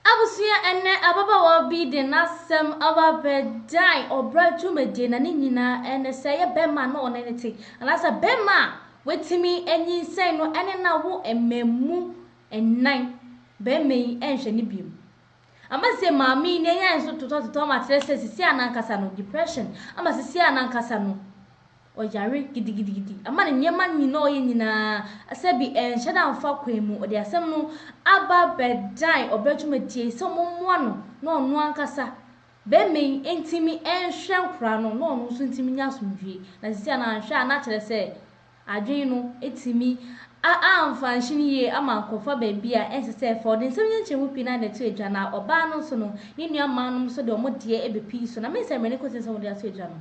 Abusua Ɛnnɛ ababaawa bi de n'asɛm aba abɛdan ɔbra dwumadie na ne nyinaa ne sɛ ɛyɛ bɛrima a na ɔne no te anaasɛ bɛrima a watumi anyinsɛn no ne no awo mmaamu nnan. Bɛrima yi nhwɛ no biom. Ama sɛ maame yi n'ani ayɛ nso totɔtotɔ ama akyerɛ sɛ sisi a n'ankasa no depression ama sisi a n'ankasa no. Ɔyare gidigidigidi. Ama ne nneɛma nyina a ɔyɛ nyina ara sɛ bi ɛnhyɛ da mfa kwan mu. Ɔde asɛm no aba bɛdan ɔbɛ dwumadie yi sɛ wɔmmoa no na ɔno ankasa bɛrima yi ntumi nhwɛ nkwadaa no na ɔno nso ntumi nya asomdwoeɛ. Na seesei a na anhwɛ a na kyerɛ sɛ adwene no atumi a amfa anhyene yie ama akɔfa baabi a ɛnsɛ sɛ ɛfa. Ɔde nsɛm nkyekyɛmu pii no ara na ɛto adwa na ɔbaa no nso no ne nuammaanom nso de wɔn deɛ bɛpii so. Na me nsɛmmɔne kɔsi sɛ wɔde ato adwa no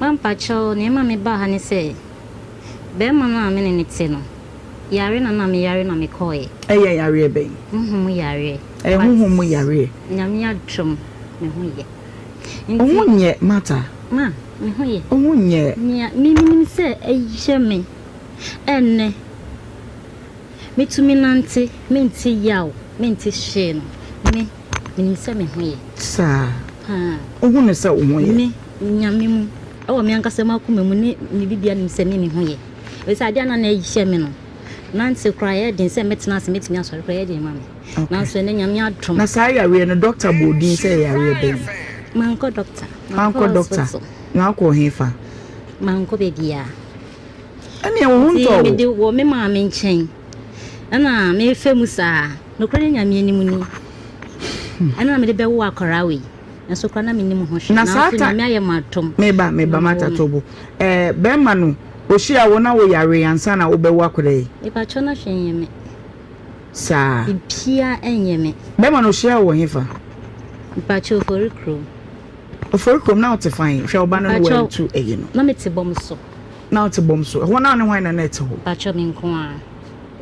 Mampakyɛw, nea ɛma mebaa ha ne sɛ barima no a me ne no te no yare na na meyare na mekɔe. Ɛyɛ yareɛ bɛn? Honhom mu yareɛ. Ɛyɛ honhom mu yareɛ. But Nyame adom me ho yɛ. Wo ho nyɛ Martha? Ma, me ho yɛ. Wo ho nyɛ? Nea me menim sɛ ɛyɛ me ɛnnɛ, metumi nante, mente yaw, mente hwee no, me. Menim sɛ me ho yɛ. Saa. Paa. Wohu no sɛ wo ho yɛ. Me, Nyame mu, ɛwɔ me ankasa mu akoma mu ne me bibia nim sɛ me me ho yɛ. Ɛfisɛ adeɛ a na na ɛhyɛ me no, nante koraa ɛyɛ den sɛ mɛtena ase mɛtumi asɔre koraa ɛyɛ den ma me. Nanso ɛnɛ Nyame adom. Na saa yareɛ no dɔkta bɔɔ din sɛ ɛyɛ yareɛ bɛn? Mankɔ dɔkta. Mankɔ dɔkta. Na wokɔɔ he fa? Mankɔ baabiaa. Ɛneɛ wo ho ntɔɔ wo? Nti mede wɔ me maame nkyɛn. Ɛna mefa mu saa. Nokorɛ ne Nyame anim ni. Ɛna na mede bɛwo akwaraa wei. Nanso koraa na menim ho hwɛ. Nanso Nyame ayɛ mo atom. Meba, meba, mata tobo. Eh, bɛrima no, ɔhyia wo na wo yare ansa na wobɛwo akwaraa yi? Mepakyɛ na hwɛ nyɛ me. Saa. Bibia ɛnyɛ me. Bɛrima no, ɔhyia wo wɔ hefa? Mepakyɛ ofori kurom. Ofori kurom, na wote fan? Hwɛ ɔba no no watu ɛyi no. Na mete bɔm so. na wote bɔm so? Ɛhɔ no ara ne hwan na na ɛte hɔ? Pakyɛ, me nko ara.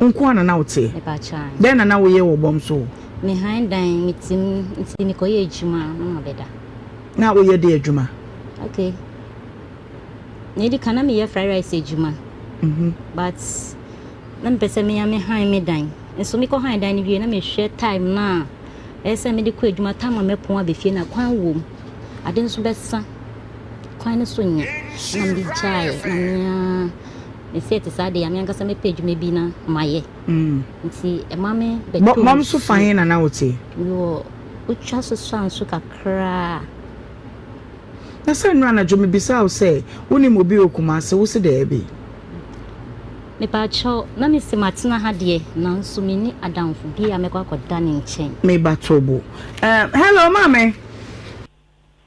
Wo nko ara na na woteɛ? Mepakyɛ aane. Dɛn na na woyɛ wɔ bɔm so hɔ? Me han dan, me te mu, nti me kɔyɛ adwuma a na mabɛda. Na woyɛ deɛ adwuma? Ok, nea edi kan na meyɛ fry rice adwuma, but na mepɛ sɛ mea me han me dan, nso me kɔ han dan no wie na mehwɛ time no a ɛyɛ sɛ mede kɔ adwuma, time a mɛpɔn aba fie na kwan wɔ mu, ade nso bɛsa. kwan no so nyɛ na me gyae na me a me sɛ te saa de a me ankasa mɛpɛ adwuma bi na mayɛ mm. nti ɛma me bɛtɔ mom so fa he na na wote mewɔ wotwa so so anso kakraa na sɛ nnora anadwo mebisa wo sɛ wonim obi wɔ kuma ase wo se daabi mepaakyɛw na mese matena ha deɛ nanso menni adamfo bi a mɛkɔ akɔda ne nkyɛn meba tobo uh, hello maame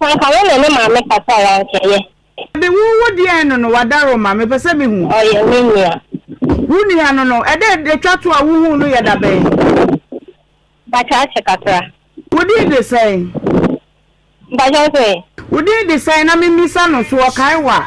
Sɛ anka wo ne ne maame kasa a anka ɛyɛ. Ade wo wo deɛn no no wadaro ma mepɛ sɛ me hu. Ɔyɛ me nua. Wo nua no no ɛdɛ ɛtwa to a wo huu no yɛ da bɛn. Mpakyɛ akyɛ kakra. Wo din de sɛn. Mpakyɛ wo so ɛ. Wo din de sɛn na me mmisa no so ɔkae wo a.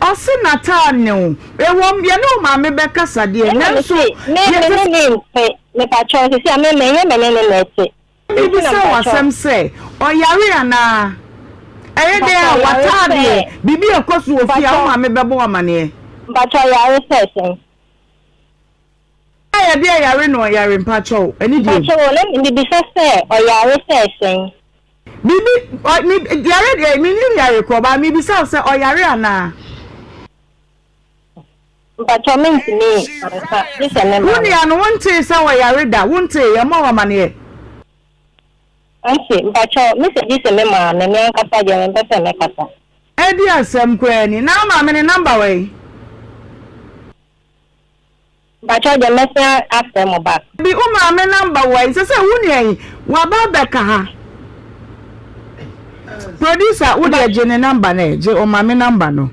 Ɔse nataa ne wo. Ɛwom yɛne wo maame bɛkasa deɛ Ɛna me se me me ne ne nte mepakyɛw sesei a me me ɛnyɛ me ne ne na ɛte nti na mepakyɛw. Mebisa wo asɛm sɛ ɔyare anaa? Ɛyɛ dɛn a wataa deɛ? Biribi ɛkɔso wɔ fie a wo maame bɛbɔ wo amaneɛ? Mpakyɛw yare sɛ sɛn? Na yɛde ɛyare na ɔyare mpakyɛw, ɛne deɛ. Mpakyɛw o, na mebisa sɛ ɔyare sɛ sɛn? Biribi, ɔ, me, yare deɛ, menim yare korɔ, ba mebisa wo sɛ ɔyare anaa? Mpakyɛw mentumi nka, gye sɛ mema no. Wo nua no, wontee sɛ ɔyare da? Wontee, yɛmma wo amaneɛ. Ɔse, mpakyɛw, mese gye sɛ mema no, me ankasa deɛ mempɛ sɛ mɛkasa. Ɛdeɛ asɛm koraa ni, na wo maame no number wɔ he? Mpakyɛw deɛ mɛsan afrɛ mo back. Bi wo maame number wɔ he? Sɛsɛ wo nua yi waba abɛka ha. Producer wo deɛ gye ne number no ɛ, gye ɔmaame number no.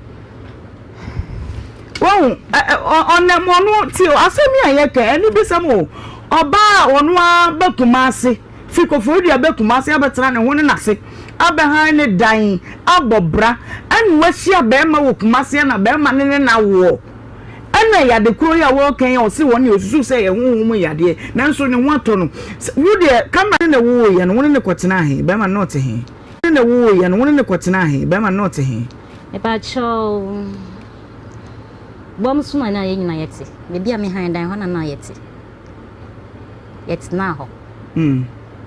Wahu ɔnam ɔno ti asɛm yi a yɛka anibisɛm o. Ɔbaa a ɔno ara ba Kumasi fi Koforidua bɛ Kumasi abɛtena ne ho ne n'ase abɛhan ne dan abɔ bra ɛna wahyia bɛɛma wɔ Kumasi ɛna bɛɛma ne ne no awoɔ. Ɛna yade korɔ yi a wɔɔka yi a ɔse wɔn deɛ ɔsusu sɛ ɛyɛ honhom mu yadeɛ nanso ne ho atɔ no Wo deɛ camera ne na woo yɛ no wo ne no kɔtenaa he bɛrima no ɔte he ne na woo yɛ no wo ne no kɔtenaa he bɛrima no ɔte he. Mepakyɛw bɔ me so na na yɛn nyinaa yɛte. Baabi a me han dan hɔ na na yɛte. yɛtsenaa hɔ.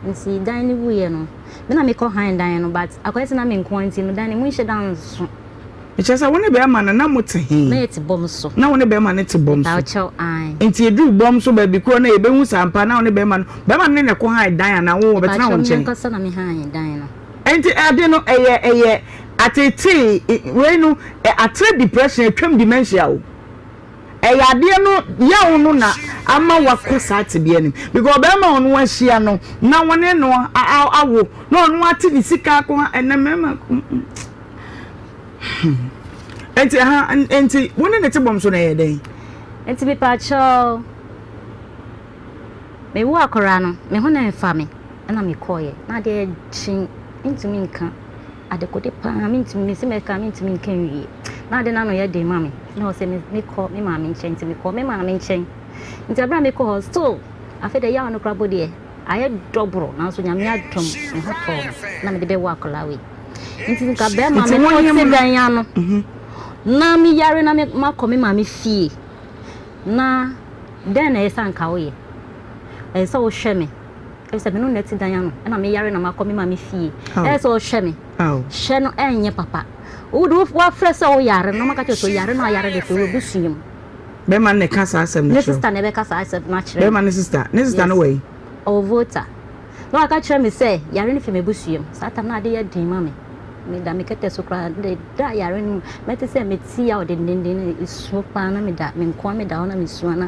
Ntsi dan no wuiɛ no, me na mekɔ hann dan no but akɔyɛ sɛ na me nkoaa ntsi no dan no monnhyɛ da nnso. Kyerɛ sɛ wo ne bɛɛma no na mo tse he? Na yɛtse bɔm so. Na wo ne bɛɛma no tse bɔm so? Mepao kyɛw, ae. Ntsi edur bɔm so baabi kor na yɛbɛhu sɛ ampa na wo ne bɛɛma no, bɛɛma no ne no kɔ hann dan anaa wo wɔbɛtsenaa wo nkyɛn? Mepao kyɛw, me ankasa na me hann dan no. Ntsi ade no ɛyɛ ɛyɛ atsetsee, wei no, atere depression, atwam dementia o. Ɛyɛ adeɛ no yaw no na ama wakɔ saa tebea no mu because ɔbarima a ɔno ahyia no na wɔne no awo na ɔno ate ne sika ako ha ɛnɛ mmarima nti ha nti wo ne ne te bɔm so na ɛyɛ dɛn. nti mepaakyɛw mewo akwaraa no me ho na ɛmfa me ɛna mekɔɔyɛ na adeɛ kye ntumi nka Adekode paa mentumi mese mɛka mentumi nka nwie na ade no ano yɛ den ma me na ɔsɛ mekɔ me maame nkyɛn nti mekɔ me maame nkyɛn nti abira mekɔ hɔ still afei deɛ yaw no kora bɔ deɛ ayɛ dɔboro nanso nyame adom me ho tɔɔ me na mede bɛwɔ akwadaa wei nti nka bɛrima me na ɔte dan ano mhm. na me yare na makɔ me maame fie na dɛn na ɛsɛ nka woyɛ ɛsɛ sɛ wohwɛ me Sɛ me no na ɛte dan ano na meyare na makɔ me maame fie ɛyɛ sɛ ɔhwɛ me hwɛ no ɛnyɛ papa wo de wafrɛ sɛ wo yare na ɔmaka kyerɛ sɛ ɔyare na ɔyare de fɛ wɔ abusua mu. Bɛrima no na ɛka saa asɛm no kyerɛ wo? Ne sista na ɛbɛka saa asɛm no akyerɛ me. Bɛrima no sista? Ne sista no wɔ he? Ɔwɔ Volta. Na waka kyerɛ me sɛ yare no fi m'abusua mu. Saa tam no ade yɛ den ma me. Meda me kɛtɛ so koraa. Meda yare no mu. Mɛte sɛ metia ɔdendenden no. Ɛsuo paa na meda. Menkoa meda hɔ na mesua na.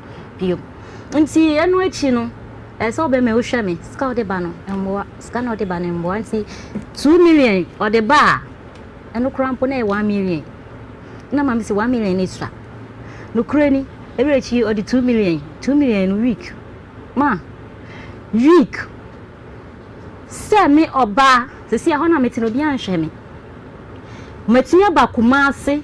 bio. Nti ɛno akyi no, ɛsɛ sɛ wobɛma wohwɛ me, sika a wode ba no mmoa, sika no a wode ba no mmoa. Nti two million ɔde ba a, ɛno koraa mpo na ɛyɛ one million. Na maame sɛ one million ne sua. Nokorɛ ni, ɛberɛ akyi yi ɔde two million, two million no week, ma week. Sɛ me ɔbaa, sɛsi a hɔ na mete no obiara nhwɛ me. Matumi aba Kumasi.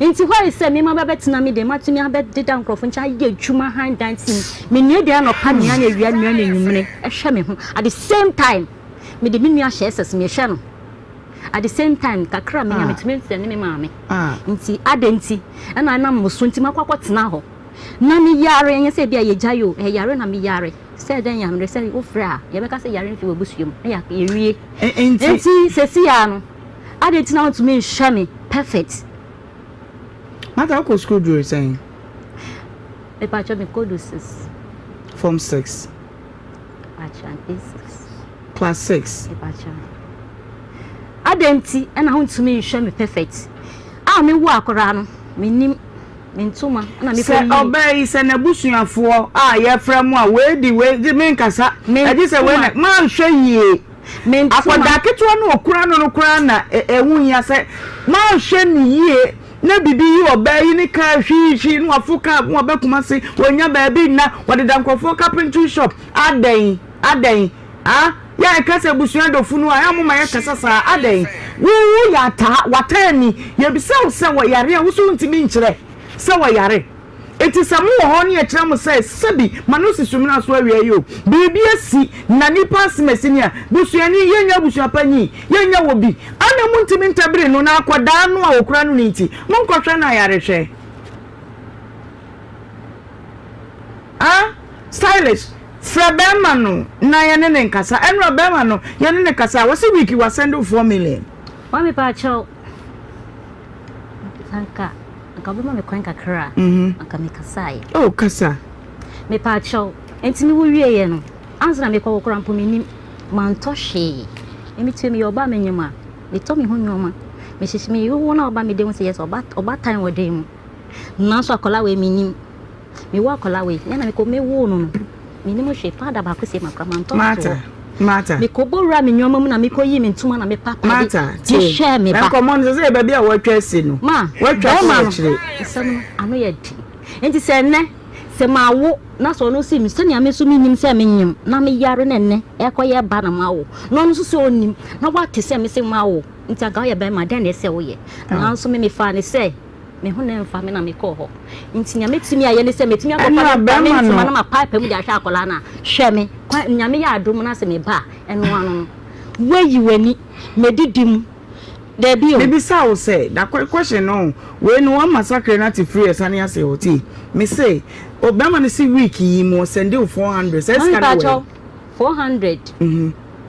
Enti hɔ ayɛ sɛ me mmabaa bɛtena me dan mu, atumi abɛdeda nkurɔfo nkyɛn, ayɛ adwuma hann dan si mu. Menoa aduan anɔpa, nnuan awia, nnuan anwummere, hwɛ me ho. At the same time, mede me nua hyɛ SS, mehwɛ no. At the same time, kakra a menya, metumi mfrɛne me maame. Enti adɛn nti na ɛnam mo so nti makɔ akɔtena hɔ? Na meyare, ɛnyɛ sɛ ebia yɛagyae o, ɛyare na meyare. Sɛ dɛn yare? Sɛ wofrɛ a, yɛbɛka sɛ yare mfi w'abusua mu, na yɛawie. Enti seesei ara no. Adɛn nti na wontumi nhwɛ me perfect? Martha, wokɔ sukuu duru sɛn? Mepakyɛ mekɔ du six. Form six. Mepakyɛ mpe six. Class six. Mepakyɛ. Adɛn nti na wontumi nhwɛ me perfect? A mewo akoraa no, menim me ntoma na mekɔ yie. Sɛ ɔbaa yi sɛ n'abusuafoɔ a yɛfrɛ mo a wei di wei gye menkasa. Ɛgye sɛ wei na manhwɛ yie. Akwadaa ketewa no a ɔkura no no koraa na ɛho hia sɛ wanhwɛ no yie na biribi yi ɔbaa yi ne kaa hwiihwii na wafo kaa ho aba Kumasi, wɔnya baabi nna, wɔdeda nkurɔfoɔ carpentry shop. Adɛn? Adɛn? Ah, yɛ a yɛka sɛ abusua dɔ funu a, yɛ a moma yɛkasa saa. Adɛn? Wo woyɛ ataa, w'ataa ni, yɛbisa wo sɛ wɔyare a, wo so wontumi nkyerɛ sɛ wɔyare. Enti sɛ mowɔ hɔ ne ɛkyerɛ mo sɛ sɛbi ma no si so mmra so awie yi o, biribi asi na nipa asem asi ni a, busuani, yɛnyɛ abusua pa nyi, yɛnyɛ wɔ bi a na montumi ntɛbiri no na akwadaa no a ɔkura no no nti monkɔhwɛ no ayarehwɛ a, stylish, frɛ bɛɛma no na yɛne no nkasa, ɛnora bɛɛma no yɛne no kasa a, wɔse week wɔ asɛnde wo four million. Wɔ me paakyɛw. Anka anka wobɛma me kwan kakra a anka mekasaeɛ. Oh, kasa. Mepaakyɛw, ɛntini wowieeɛ no, ansa na mekɔ wo koraa mpo mennim. Mantɔ hwee. Emi tue meyɛ ɔbaa menyem a, metɔ me ho nnoɔma. Mehyehyɛ, meyere wo na woba mede wo sɛ yes, ɔba, ɔbatan wɔ dan mu. Nanso akwadaa wei mennim. Mewɔ akwadaa wei, yɛn na mekɔ mewoo no no, menim hwee, powder baako sie makora, mantɔ no to hɔ. Martha. Mekɔbɔ wura me nneɛma mu na mekɔyi me ntoma na mepa atade Martha, de tie. hwɛɛ me Na ba. nkɔmmɔ no sɛ sɛ yɛ baabi a wɔatwa asi no. Ma, Wɔatwa kɔ bɛrima no, akyire. asɛm no, ano yɛ den. Enti sɛ ɛnnɛ, sɛ mawo na sɛ ɔno se me sɛnea me nso menim sɛ menyem na meyare na ɛnnɛ ɛrekɔyɛ ba na mawo, na ɔno nso sɛ ɔnnim na wate sɛ mese mawo, enti anka woyɛ bɛrima, dɛn na ɛsɛ sɛ woyɛ? Nanso me mefaa no sɛ Me ho na ɛmfa me na mekɔɔ hɔ. Nti nea mɛtumi ayɛ ne sɛ mɛtumi akɔfa ne nkwa ne ntoma no ma paape mu de ahwɛ akwadaa no a, hwɛ me, kwa, nyame yɛ adom na sɛ meba a, ɛno ano no. Woayi w'ani, mɛdidi mu. Dabi o. Mebisa wo sɛ, na question no, wei no wa massacre no ate firi ɛsane ase hɔ, tie, mese, o, bɛrima no se week yi mu ɔsɛnde wo four hundred, saa sika no wɔ he? four hundred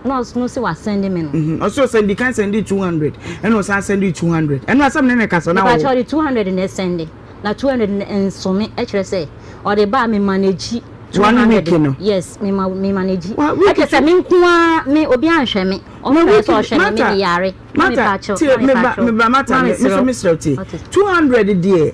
ɛna ɔsono sɛ wasɛnde me no. ɔsɛ ɔsɛnde kan sɛnde two hundred ɛna ɔsan sɛnde two hundred ɛno asɛm ne ne kasa na ɔwɔ. ɔde two hundred na ɛsɛnde na two hundred no nsome ɛkyerɛ sɛ ɔde ba a me manage two hundred no yes me ma me manage ɛkyɛ sɛ me nko ara me obi anhwɛ me ɔhwɛ sɛ ɔhwɛ me me de yare mata tie me ba me ba mata me so me srɛ tie two hundred deɛ.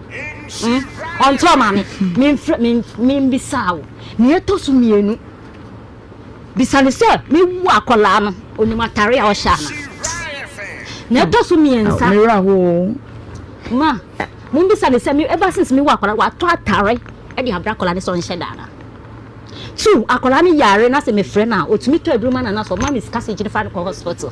Hmm? Ɔnkyɛ maame, memfrɛ me membisaa wo. Nea ɛtɔ so mmienu, bisa no sɛ mewu akwadaa no onim atare a ɔhyɛ ana? Nea ɛtɔ so mmiɛnsa. Mewura hɔ o. Ma, mombisa no sɛ me ɛba since mewu akwadaa watɔ atare ɛde abra akwadaa no sɛ ɔnhyɛ da ana? Two, akwadaa no yare na sɛ mefrɛ no a otumi tɔ aduro ma no anaasɛ ɔma me sika sɛ gyina fa no kɔ hospital.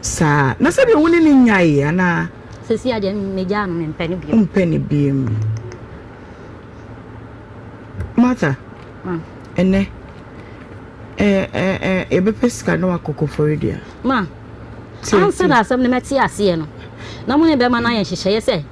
saa na sɛdeɛ wo ne no nyaeɛ anaa. Sesia deɛ megyaa no mempɛ no bio. Wompɛ no bio. Martha. Ma. Ɛnɛ yɛbɛpɛ sika na wakɔ kɔfɔre dua. Ma. Ansa na asɛm no mɛte aseɛ no na mo ne bɛma no ayɛ nhyehyɛeɛ sɛ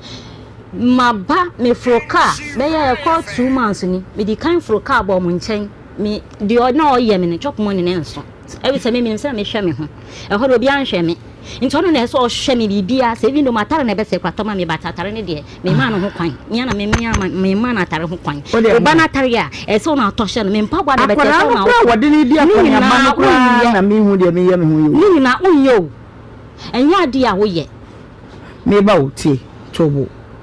maba meforo kaa bɛyɛ ɛkɔ two months ni medi kan foro kaa bɔɔ mo nkyɛn me deɛ na ɔyɛ me no chop money ne nso. Efisɛ me, minim sɛnea mehwɛ me ho. Ɛhɔ no, obiara nhwɛ me. Enti ɔno na ɛsɛ sɛ ɔhwɛ me biribiara. Sɛ even though m'atare na ɛbɛsɛe koraa, tɔ ma me ba. Atare no deɛ, memmaa no ho kwan. Me ara na me, me ara memmaa no atare ho kwan. Wo ba no atare a, ɛsɛ sɛ wo na wotɔ hyɛ no. Me mpaboa na ɛbɛsɛe, ɛsɛ sɛ wo na wotɔ. Akwadaa no koraa a wɔde no redi akɔneaba no koraa na minhu deɛ meyɛ me ho yi o. Ne nyinaa, wonyɛ o. Ɛnyɛ adeɛ a woyɛ. Me ba o, tie, to wo bo.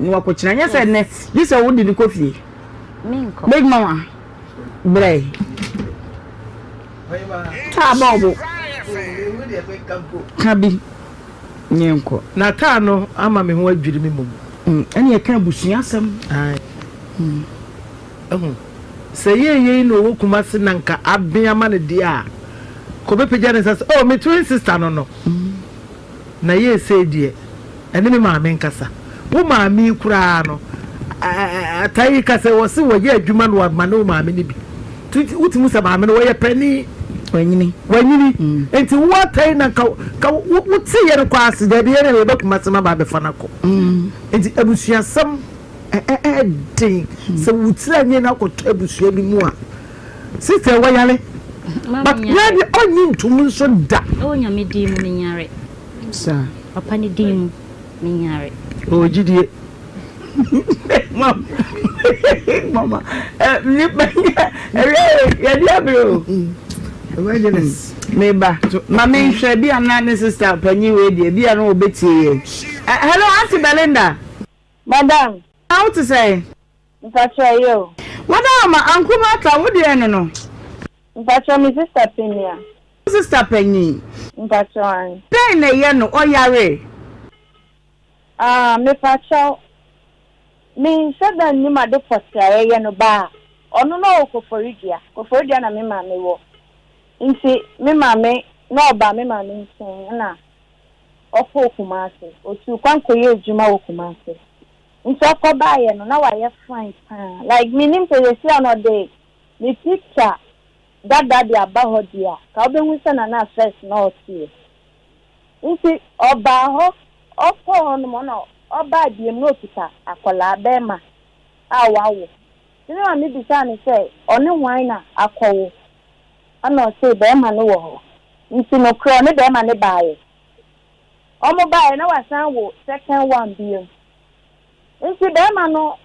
na wakɔkyina nyɛ sɛ nnɛ gye sɛ wode no kɔ fie big mama brɛ taa bɔɔbo ka bi nyɛ nkɔ na taa no ama me ho adwiri me mmom mm, ɛne ɛka abusua asɛm mm. ɛho sɛ yɛyei na ɔwɔ kuma se na nka abea ma no deɛ a kɔbɛpagya ne nsa sɛ oh me twin sister no no mm. Na yeesei deɛ, ɛne me maame nkasa. Wo maame yi koraa no, taa yi ka sɛ wɔse wɔyɛ adwuma na wɔamane wo maame no bi. Nti wote mu sɛ maame no wɔyɛ panin. Wanyini. Wanyini. Nti wo ata yi na nka nka wote yɛn kɔ ase. Daabi, yɛn na yɛba Kumasi ma ba abɛfa no akɔ. Nti abusuasɛm ɛyɛ den. Sɛ wotiri anwene na akɔtɔ abusua bi mu a. Sister wayare but na de ɔnyi ntom nso da. Ɛwɔ nyame din mu menyare. Sa. Papa ne din mu menyare. Ɔwɔ gyidie. Mama eh nipa nyɛ ɛwɛ yɛde abere o. Evangelist meba ma menhwɛ bi a na ne sister panyin wei deɛ bi a na ɔbɛtie yɛn. Hello Auntie Belinda. Madam. How te sɛn? Mpatsɔ ɛyɛ o. Wada hɔ ma Anku Martha wo deɛ no no. Mpatsɔ me sister panyin a. Wo sister panyin. Mpatsɔ an. Dɛn na ɛyɛ no ɔyaree. Aah mepakyɛw me nhyɛ da nnim ade pɔtee a yɛyɛ no baa ɔno na ɔwɔ koforidua koforidua na me maame wɔ nti me maame na ɔbaa me maame nkyen ɛna ɔkɔɔ kumase ɔtuu kwan kɔyɛɛ adwuma wɔ kumase Nti ɔkɔ baayɛ no na wayɛ fine paa like mennim sɛ sɛsi a na ɔde ne picture dada de aba hɔ deɛ a ka wobɛhu sɛ na na first na ɔteɛ nti ɔbaa hɔ ɔkɔɔ hɔ nom na ɔbaa biom na ɔkita akwadaa bɛɛma a wawo nti me maame bisaa no sɛ ɔne hwan na akɔwo ɛna ɔsee bɛɛma no wɔ hɔ nti nokorɛ ɔne bɛɛma no baayɛ. Ɔmo baeɛ na wasan wo second one biom. Nti bɛɛma no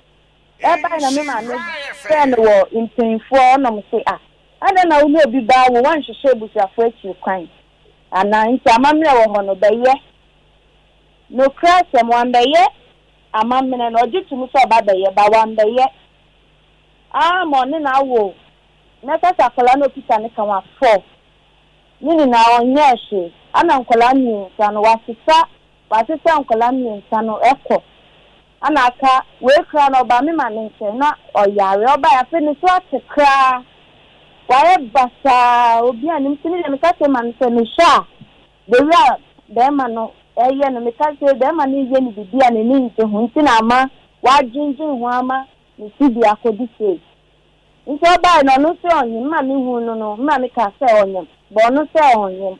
ɛbae na me maame frɛɛ no wɔ mpainfoɔ hɔ na ɔmo se ah adɛn na wo ne obi ba awo wanhwehwɛ abusuafoɔ akyiri kwan anaa nti amammerɛ wɔ hɔ no bɛyɛ nokorɛ asɛm wambɛyɛ amammerɛ no ɔgye tom sɛ ɔba bɛyɛ ba wambɛyɛ aa ma ɔne no awo na ɛsɛ sɛ akwadaa no ɔkita ne ka wafɔ Ne nyinaa ɔnyɛɛ hwee. Ana nkwadaa mmiensa no wasesa wasesa nkwadaa mmiensa no kɔ ana aka wei koraa no ɔbaa me maame nkyɛn na ɔyare ɔbaeɛ afei ne so ate koraa wayɛ basaa obi a nim ti ne deɛ meka kyerɛ maame sɛ mehwɛ a the way a bɛrima no ɛyɛ no meka sɛ bɛrima no yɛ ne biribi a n'ani ngye ho nti na ama wadwendwen ho ama ne sibea akɔdu sei. Nti ɔbae na ɔno se ɔnyem, ma me huu no no, ma me kaa sɛ ɔnyem, bɔ ɔno sɛ ɔnyem.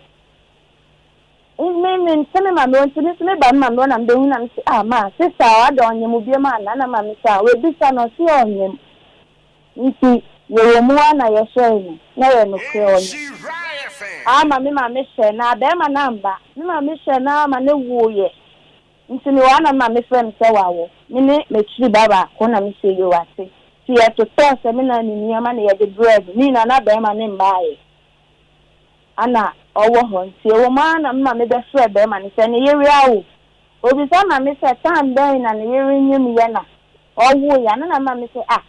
Me, me nte me ma me o, nti me nso me ba me ma me o na me bɛhu na me se ah, ma, sista o, adɛn ɔnyem wo biom anaa? Na ma me se ah, wabisa no, ɔse ɔnyem. Nti yɛwɔ mu a na yɛhwɛe no, na ɛyɛ nokorɛ, ɔnyem. Ah, ma me ma me hyɛɛ no aa, bɛɛma no amma. Me ma me hyɛɛ no aa ma no wooeɛ. Nti mewɔ ana ma mefrɛ me sɛ w'awɔ me ne m'akyiri ba baako na mesɛ yoo ate nti yɛtotɔɔ sɛ me na ne nneɛma na yɛde brɛɛ no ne nyinaa na bɛɛma no mmaeɛ ana ɔwɔ hɔ nti ɛwɔ mu ara na me ma me bɛ frɛ bɛɛma no sɛ ne yere awo obisa ma me sɛ time bɛn na ne yere nyem yɛ na ɔwoeɛ ana na me ma me sɛ ah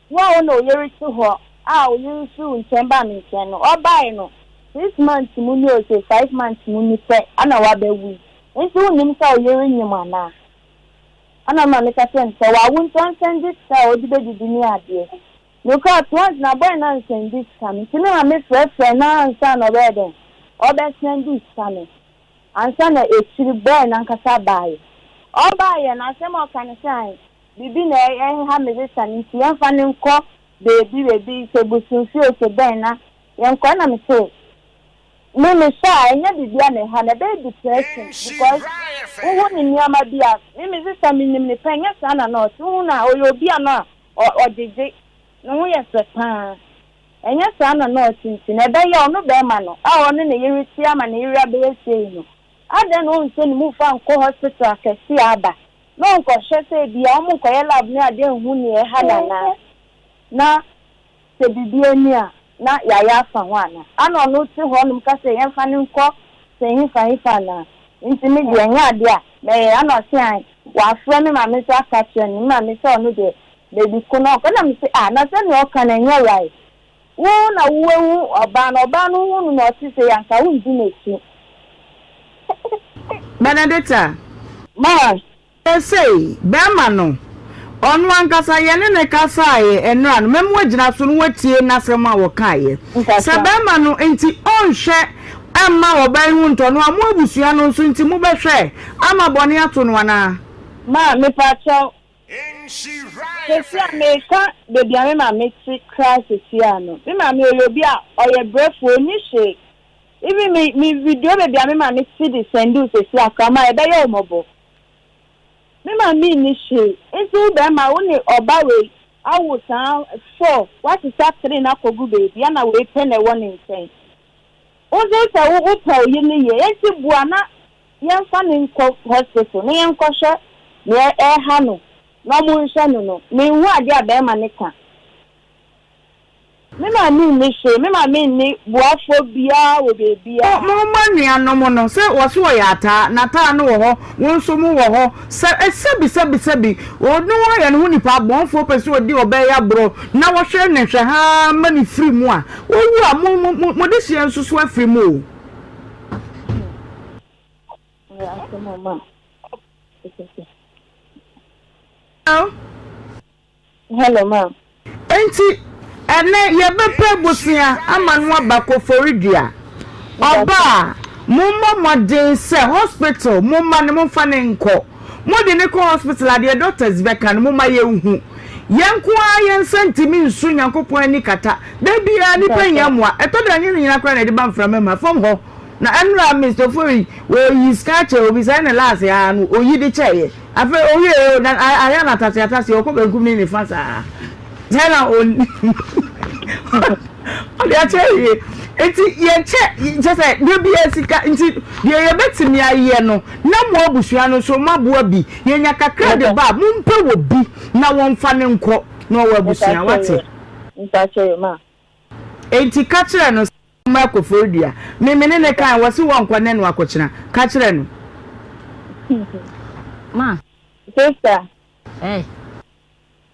Wo a wo na wo yere te hɔ a wo yere nso ntwɛn baa me nkyɛn no, ɔbae no, six months mu ni ose five months mu ni pɛ na wabɛwo yi, enti wonnim sɛ wo yere nyem anaa? Ɛna ɔma me ka kyerɛɛ no sɛ, Wawo nti ɔnsɛnde sika a ɔde bɛdidi ne adeɛ. Na ɔkuraa twans na bɔe no ansɛnde sika no, enti me maame frɛfrɛɛ no ara ansa na ɔbɛyɛ dɛn? Ɔbɛsɛnde sika no, ansa na akyiri bɔe no ankasa baeɛ. Ɔbaeɛ no, asɛm a ɔka ne sɛ, Ae, Biribi na ɛha me desa no nti yɛmfa no nkɔ baabi baabi, sɛ bosomfie o, sɛ dɛn na yɛnkɔ. Ɛna me se, me mehwɛ a ɛnyɛ biribi a na ɛha no, ɛbɛyɛ depression because wohu ne nneɛma bi a, me me sesa menim no pɛ, ɛnyɛ saa na na ɔte, wohu no a ɔyɛ obi a na ɔgyegye, ne ho yɛ fɛ pa ara, ɛnyɛ saa na na ɔte nti na ɛbɛyɛ ɔno barima no a ɔne ne yere te ama ne yere abɛyɛ sei no, adɛn na ɔnhyɛ ne mu fa nkɔ hospital akɛse a aba na ɔnkɔhwɛ sɛ ebia wɔnkɔyɛ lab ne ade anhu nea ɛha no anaa, na sɛ biribi anni a, na yɛayɛ afa ho anaa. Ana ɔno te hɔnom ka sɛ yɛmfa no nkɔ sɛ hefa hefa anaa? Enti me deɛ, ɛnyɛ ade a mɛyɛ. Ana ɔse, Ae, wɔafrɛ me maame nso aka akyerɛ me maame sɛ ɔno deɛ, baabi ko na ɔnkɔ. Ɛnna mese, Ah, na sɛnea ɔka no, ɛnyɛ wry. Wo na woehu ɔbaa no, ɔbaa no hun no na ɔtse sei a, nka wonndzi n'ekyir. Benedicta. Ma. Seesei, bɛrima no, ɔno ankasa, yɛne no kasaeɛ ɛnnora no, mɛma wagyina so na watie n'asɛm a ɔkaeɛ. Sɛ bɛrima no nti ɔnhwɛ mma ɔbaa yi ho ntɔ no a, mo abusua no nso nti mobɛhwɛ ama bɔne ato no anaa? Ma. Mepaakyɛw, Sɛsi a meka baabi a me maame te koraa sɛsi a no, me maame ɔyɛ obi a ɔyɛ brɛfoɔ, ɔnni hwee. Even me me video baabi a me maame te de sɛnde wo sɛsi a koraa, ma ɛbɛyɛ wo mmɔbɔ. Me maame nni hwee, nti wo barima wo ne ɔba wei awo saa four, woasesa three no akɔgu baabi, ɛna wei pɛ na ɛwɔ ne nkyɛn. Wo nso wo sɛ wo pɛ wo yere no yie, nti boa na. Yɛmfa no nkɔ hospital na yɛnkɔhwɛ nea ɛreha no na wɔnhwɛ no no. Menhu adeɛ a barima no ka. Me maame nni hwee. Me maame nni boafoɔ biara wɔ baabiara. Mo mma nuanom no, sɛ wɔse wɔyɛ ataa, na taa no wɔ hɔ, wo nso mo wɔ hɔ, sɛ, sɛbi, sɛbi, sɛbi, ɔno ara yɛ ne ho nipa, abɔnfoɔ pɛ sɛ ɔdi ɔbaa yi aborɔ, na wɔhwɛ no nhwɛhaa ma no firi mu a, ɔwu a, mo, mo, mo, mo dehyeɛ nso so afiri mu o. Hello ma. Enti ɛnɛ yɛbɛpɛ abusua ama no aba Koforidua. Ɔba a, mommɔ mmɔden sɛ hospital momma no momfa no nkɔ. Mode no kɔ hospital a deɛ doctors bɛka no momma yɛnhu. Yɛn nko ara yɛn nsa ntumi nso Nyankopɔn ani kata. Da biara nnipa hia mmoa. Ɛtɔ da ɛnyɛ ne nyinaa koraa na yɛde ba mframa mu a, fam hɔ na ɛnora Mister Ofori ɔyi sika kyɛ obi saa ɛna last ara no ɔyi de kyɛeɛ. Afei ɔwieɛ o na ayɛ no ataseataseɛ ɔkɔ benkum ne nifa saa. Hena na onim? Ɔde akyɛ awie. Nti yɛkyɛ kyɛ sɛ deɛ bi yɛ sika nti deɛ yɛbɛtumi ayɛ no na mo abusua no nso moaboa bi. Yɛnya kakra de ba a mompɛ wɔ bi na wɔmfa no nkɔ na ɔwɔ abusua. Woate? Enti ka kyerɛ no sɛ ɔmma akɔforidua. Me me ne no kae wɔse wɔnkɔ nnɛ na wɔakɔkyena. Ka kyerɛ no. Ma. Sister. Ɛɛ.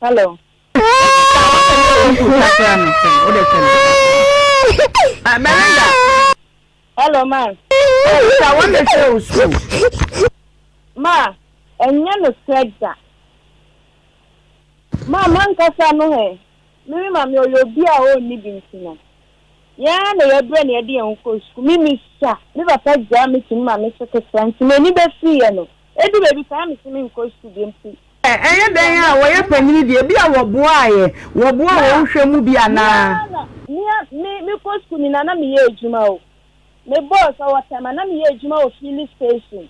Hello. Hello ma. Sa wọn na ṣe o school. Ma, ẹnyẹ no sẹ da. Ma, ma nkasa no hẹ. Mimi ma mi ọyọ obi a o ni bi nti no. Yẹn na yẹ brẹ na yẹ de yẹn ho kọ school. Mimi sa, mi papa gyaa mi to mi ma mi so ketewa nti m'ani bẹ firi yẹ no. Edu baabi saa metumi nkɔ sukuu bio mpo. Ɛyɛ dɛn a wɔyɛ panyin deɛ, ebia wɔboaeɛ, wɔboa wɔn nhwɛ mu bi anaa? Mea na me kɔ sukuu me na na meyɛ adwuma o me boss ɔwɔ tɛma na meyɛ adwuma wɔ filling station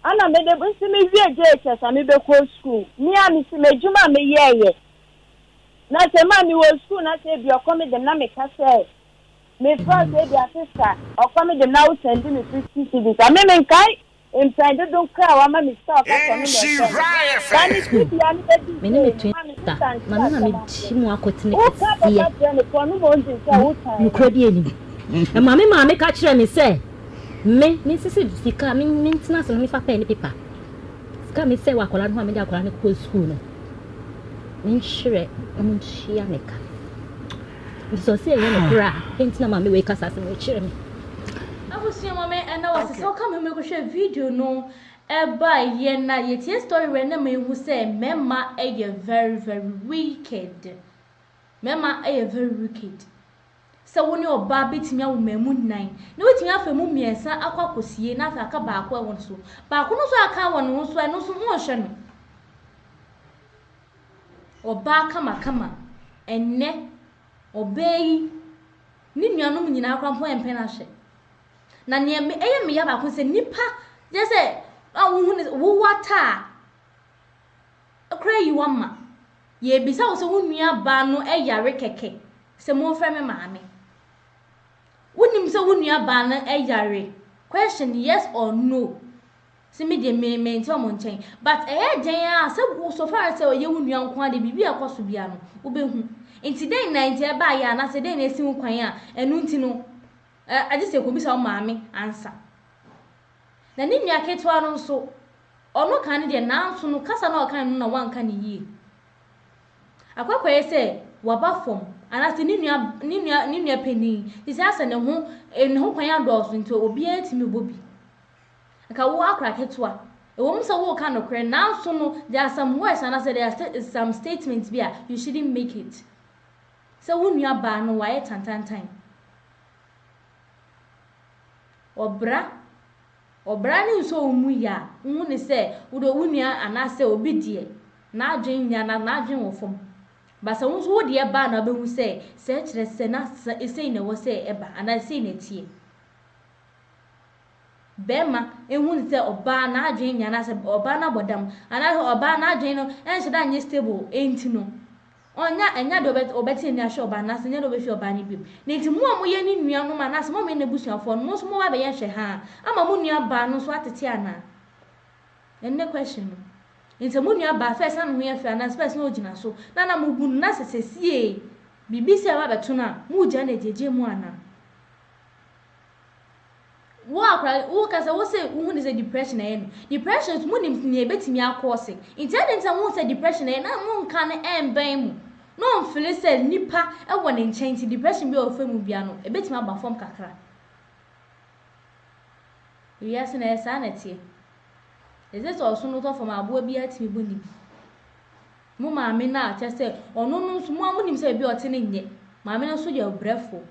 ɛna me de nti me wie JHS a me bɛ kɔ sukuu mea me si m'adwuma a me yɛɛyɛ na sɛ maa me wɔ sukuu na sɛ ebi ɔkɔ me dɛm na me ka sɛ Me frɛ sɛ ebi a sista ɔkɔ me de na wo sɛndi me fifty cedis a me me nkae mpɛn dodow koraa a wama me sika a ɔka sɛ ɔno na ɛfrɛ me ba ne si dua no bɛdi sei no ma me sista nte asɛm ase wo ka kɔka kyerɛ no pɔ no ma ɔngye nkyɛ wo tan no. Nokorɛ biara nim. Ɛma me maame ka kyerɛ me sɛ me me nsese sika me me ntena ase na me fa pɛn ne pepa sika a me sɛ wɔ akwadaa no ho a me de akwadaa no kɔ sukuu no me nhyerɛ ɔmo ntua me ka. Bisa sɛ ɛyɛ nokorɛ a, dɛn nti na maame wei kasa asɛm wei kyerɛ me? Abusua ma me ɛna wɔ se sɛ woka me ho mɛkɔ hwɛ video no ɛba yɛ na yɛ tie story wɛ na me hu sɛ mɛma ɛyɛ very very wicked mɛma ɛyɛ very wicked sɛ wo ne ɔbaa bɛtumi awo ma ɛmu nan na wotumi afa ɛmu mmiɛnsa akɔ akɔsie na afei aka baako ɛwɔ no so baako no so aka wɔ ne ho so ɛno so ho nhwɛ no Ɔbaa kamakama. Ɛnnɛ, ɔbaa yi, ne nuanom nyinaa koraa mpo mpɛ no ahwɛ. Na nea ɛyɛ me ya baako ne sɛ, nnipa gye sɛ a wohu ne wo wata a, koraa yi wama. Yɛrebisa wo sɛ wo nuabaa no yare kɛkɛ, sɛ momfrɛ me maame. Wonim sɛ wo nuabaa no yare? Question, yes or no? Se me deɛ me me nte ɔmo nkyɛn but ɛyɛ dɛn aa sɛ wo so far as sɛ ɔyɛ wo nua nkoaa deɛ biribi a ɛkɔ so biaa no wo bɛ hu nti dɛn na nti ɛbaa yɛ anaa sɛ dɛn na ɛsi wo kwan a ɛno nti no ɛ agye sɛ ɛkɔ bisa wo maame ansa na ne nua ketewa no nso ɔno kaa ne deɛ nanso no kasa no a ɔkae no na wanka ne yie akɔ akɔ yɛ sɛ waba fam anaa sɛ ne nua ne nua ne nua panin te sɛ asɛ ne ho ne ho kwan adɔɔso nti obiara tumi bɔ bi Anka wo akora ketewa. Ɛwom sɛ woreka nokorɛ nanso no there are some words anaasɛ there are some statements bi a you shouldn't make it. Sɛ wo nua baa no wayɛ tantantan. Ɔbra ɔbra no nsɔ wo mu yɛ a wohu no sɛ wode wo nua anaasɛ obi deɛ n'adwene nyɛ anaa n'adwene wɔ fam. But sɛ wo nso wo deɛ baa no a wobɛhu sɛ sɛ kyerɛ sɛ na sei na ɛwɔ sɛ ɛba anaa sei na ɛteɛ. bɛrima ehu no sɛ ɔbaa n'adwen nye anaasɛ ɔbaa no abɔdam anaasɛ ɔbaa n'adwen no nhyɛ da nnyɛ stable ntsi no, ɔnnyɛ nnyɛ adze a ɔbɛtse n'enyi ahwɛ ɔbaa no anaasɛ nnyɛ adze a obefi ɔbaa no bem. Na ntsi mo a moyɛ no nuanom anaasɛ mo a moyɛ n'ebusuafo no, mo so mowɔ abɛyɛ nhwɛhaa ama mo nuabaa no so atsetse ana? Ndɛ question no. Ntsi mo nuabaa first na no ho yɛ fɛw anaasɛ first na ogyina so na nna mubu no na sɛ sesei biribi si a ɔaba abɛto no a, mugyaa no edziedzi mu ana? Wo a koraa woka sɛ wo se wohu ne sɛ depression ayɛ no. Depression nso monim nea ebetumi akɔɔse. Nti adɛn nti na mohu sɛ depression ayɛ na monka no ɛmbɛn mo na ɔmfele sɛ nipa wɔ ne nkyɛn nti depression bi a ɔfa mu bia no ebetumi aba fam kakra. Wiase no ɛyɛ saa na ɛteɛ. Ɛsɛ sɛ ɔsono tɔ fam a aboa biara tumi bɔ ne bi. Mo maame no a kyɛ sɛ ɔno no nso mo a monim sɛ baabi a ɔte no nyɛ. Maame no nso yɛ ɔbrɛfoɔ.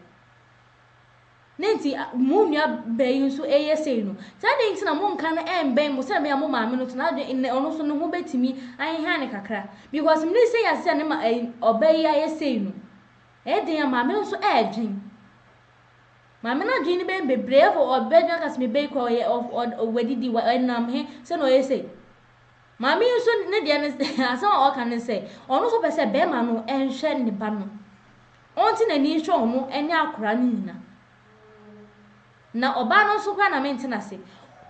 Dɛn nti a mo nuabaa yi nso reyɛ sei no? Sɛ adɛn nti na monka no mmɛn mo sɛdeɛ ɛbɛyɛ a mo maame no nso n'adwene nnɛ ɔno nso ne ho bɛtumi aheha no kakra? Because mene sei a sɛ ne ma ɛyi ɔbaa yi ayɛ sei no, ɛyɛ den a maame no nso ɛredwen. Maame no adwene no bɛyɛ bebree afɔ ɔbɛdwen aka sɛ me ba yi kora ɔyɛ ɔf ɔd ɔwadidi wa ɛnam he sɛ na ɔyɛ sei. Maame yi nso ne deɛ no asɛm a ɔka ne sɛ ɔno nso pɛ sɛ bɛrima no nhwɛ ne ba no. ɔnte n'ani nhwɛ wɔn nyɛ akwadaa no nyina. Na ɔbaa no nso koraa na mente n'ase.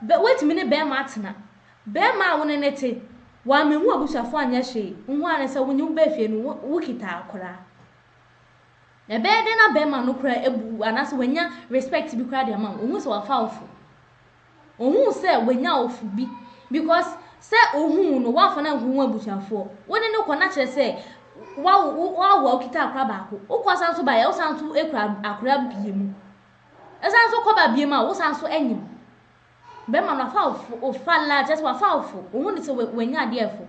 Bɛ, woatumi ne barima atena. Barima a wo ne no te, wammehu abusuafoɔ anyɛ hwee, wohu ara ne sɛ wo ne wo baa fie no, wo, wokita akwadaa. Ɛbɛyɛ dɛn na barima no koraa abu wo anaasɛ wanya respect bi koraa de ama wo? Ɔhu sɛ wafa wo fo. Ohun sɛ wanya awofo bi because sɛ ohun wo no woamfa no ankohu w'abusuafoɔ. Wo ne no kɔ na kyerɛ sɛ wawo wo wawo a wokita akora baako. Wokɔ san so baeɛ a wosan so kura akora mmienu. Ɛsan so kɔ ba biam a wosan so nyem. Bɛrima no wafa awofo ofa la kyerɛ sɛ wafa awofo. Ohun no sɛ wa wanya adeɛ ɛfo.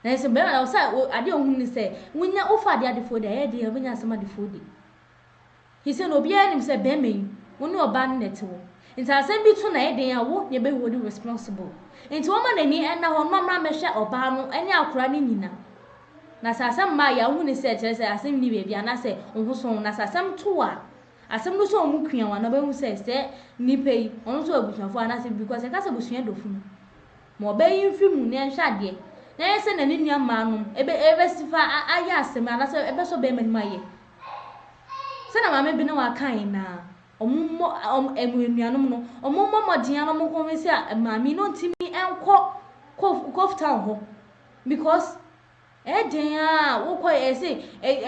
Nanso bɛrima no sɛ adeɛ a ohun ne sɛ wonya wofa adeɛ adefoɔ deɛ ɛyɛ den a wobɛnya asɛm adefoɔ di. He said, Obiara nim sɛ bɛrima yi, wo ne ɔbaa no na ɛte wo. Nti asɛm bi to na ɛyɛ den a, wo na ɛbɛ hold responsible. Nti ɔmma n'ani nna hɔ mma mmra mmɛhwɛ ɔbaa no ne akora no nyina. Na sɛ asɛm mma a, yɛ a wohu ne sɛ kyerɛ sɛ asɛm nni baabi anaasɛ wo ho sɔ wo. Na sɛ asɛm to wo a, asɛm no sɔ wo mu kwiawa na ɔbɛhu sɛ sɛ nipa yi, ɔno nso wɔ abusuafoɔ anaasɛ biribi, cos yɛka sɛ abusua dɔ funu. Ma ɔbaa yi mfiri mu na yɛnhwɛ adeɛ, na ɛnyɛ sɛ na ne nua mmaa nom ɛbɛ ɛbɛ si fa a ayɛ asɛm anaa sɛ ɛbɛ sɔ bɛɛma no mu ayɛ sɛ na maame Binah wa kaa yɛn naa ɔmo mmɔ ɔmo ɛmo anuanom no ɔmo mmɔ mmɔden ara na ɔmo convince a maame yi na ɔntumi nkɔ Kof Koftown hɔ because Ɛdɛn aa wokɔ yɛ se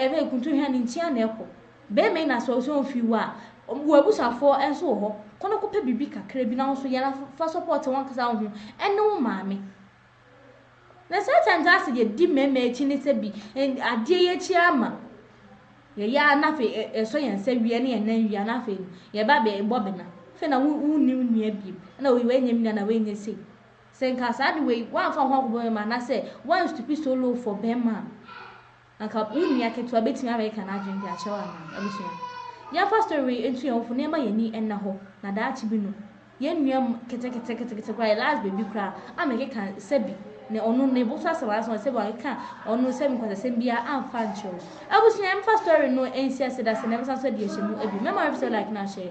ɛbɛ kuntu hwɛ ne nkyia na ɛkɔ bɛɛma yi na sɛ ɔsɛ ɔmfii hɔ aa wɔ abusuafoɔ nso wɔ hɔ kɔ na kɔpɛ biribi kakra bi na wo nso yɛ na fa sɔpɔɔte wankasa wo ho ɛne wo maame na saa time saa sɛ yɛ di mɛɛma akyi ne sɛ bi adeɛ yɛ akyi ama yɛ yɛ na afei ɛsɔ yɛn nsa wia ne yɛn nan wia na afei no yɛ ba bɛ bɔ bɛna afei na wo wo ni wo nua biem na wei wei nyɛ me nua na wei nyɛ sei Sɛ nka saa de wei woanfa wo ho ankɔbɔ bɛmma anaasɛ woan stoop so low for bɛmma a, anka wo nua ketewa bɛtumi abɛkeka n'adwene de akyerɛ wo anaa? Abusua, yɛnfa story wei ntu yɛn ho fo na yɛmma yɛn ani nna hɔ na daakye bi no, yɛn nua mu ketekete ketekete koraa, the last baby koraa, ammɛkeka sɛbi ne ɔno ne bo so asɛm anaasɛ sɛbi wankeka ɔno sɛbi nkwasasɛm biara amfa ankyerɛ wo. Abusua, yɛmfa story no nsi ase da sɛ na yɛbɛsan so adi ahyɛmu abien. Mɛma wo episode like no ahyɛ.